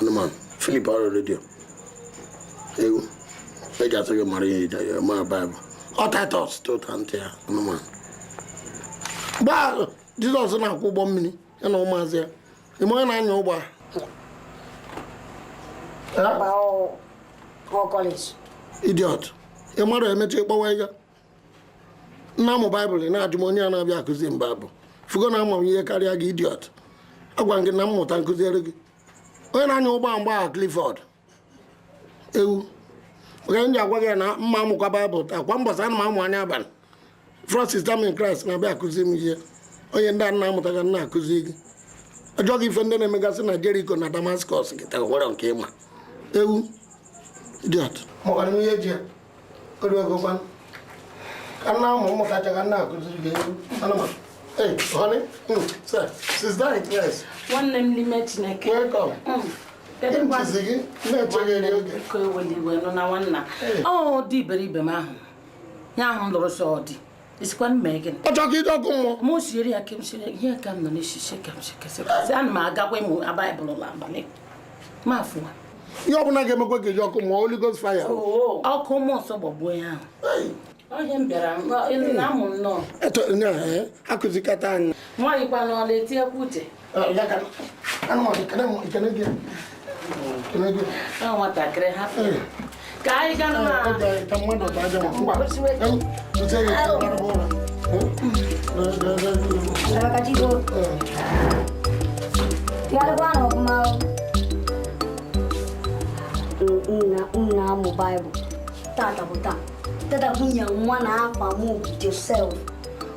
anụmanụ filip ọrụ redio ewu e ga-atụ gị mara ihe ije ya mara baịbụl ọ taịtọs tụta ntị ya anụmanụ mgbe ahụ jizọs na-akwọ ụgbọ mmiri ya na ụmụazị ya ị ma onye na-anya ụgbọ a Baba ọ ọ kọleji. idiot ị marọ emechi kpọwa ya na-amụ baịbụl na-ajụ m onye a na-abịa akụzi m baịbụl fụgo na ama m ihe karịa gị idiot agwa m gị na mmụta nkụziere gị onye na-anya ụgbọ mgbe ahụ Clifford ewu oge m ji agwa gị ya na mma amụkwa baịbụl taa kwa mbọsị ana m amụ anya abalị from sister m in Christ na-abịa akụzi m ihe onye ndị a na-amụta ka m na-akụzi gị ajụọ gị ife ndị na-emegasị na Jericho na Damascus gị taa nwere nke ị ma ewu idiot mụkwara m ihe ji ya o ruegokwa ka nna ụmụ ụmụ kacha ka m na-akụziri gị ewu anụmanụ Hey, honey, mm, sir, sister in Christ. Nwanne m n'ime Chineke. Welcome. Mm. Ntụzi gị na-echeghị eri oge. Biko ewela iwe nụna nwanna. Ọ di iberibe m ahụ. Ya ahụ m lụrụ sị ọ di. ị sịkwa m mee gịnị ọ chọọ ka i je ọkụ mmụọ mụ siere ya ka m siere ihe ka m nọ n'isisi ka m sikesị ana m agakwa ịmụ baịbụl n'abalị ma afụwa ihe ọbụla ga-emekwa ka i je ọkụ mmụọ Holy Ghost fire ọkụ mmụọ nsọ gbagbuo ya ahụ onye m bịara na-amụ nnọọ akụzikata anyị nwaanyị kwa n'ọla etiekwa uche nwatakịrị hapụ ka anyị ga na-amụ baịbụl tata bụ taa tata bụ nye nwa na akpa m josef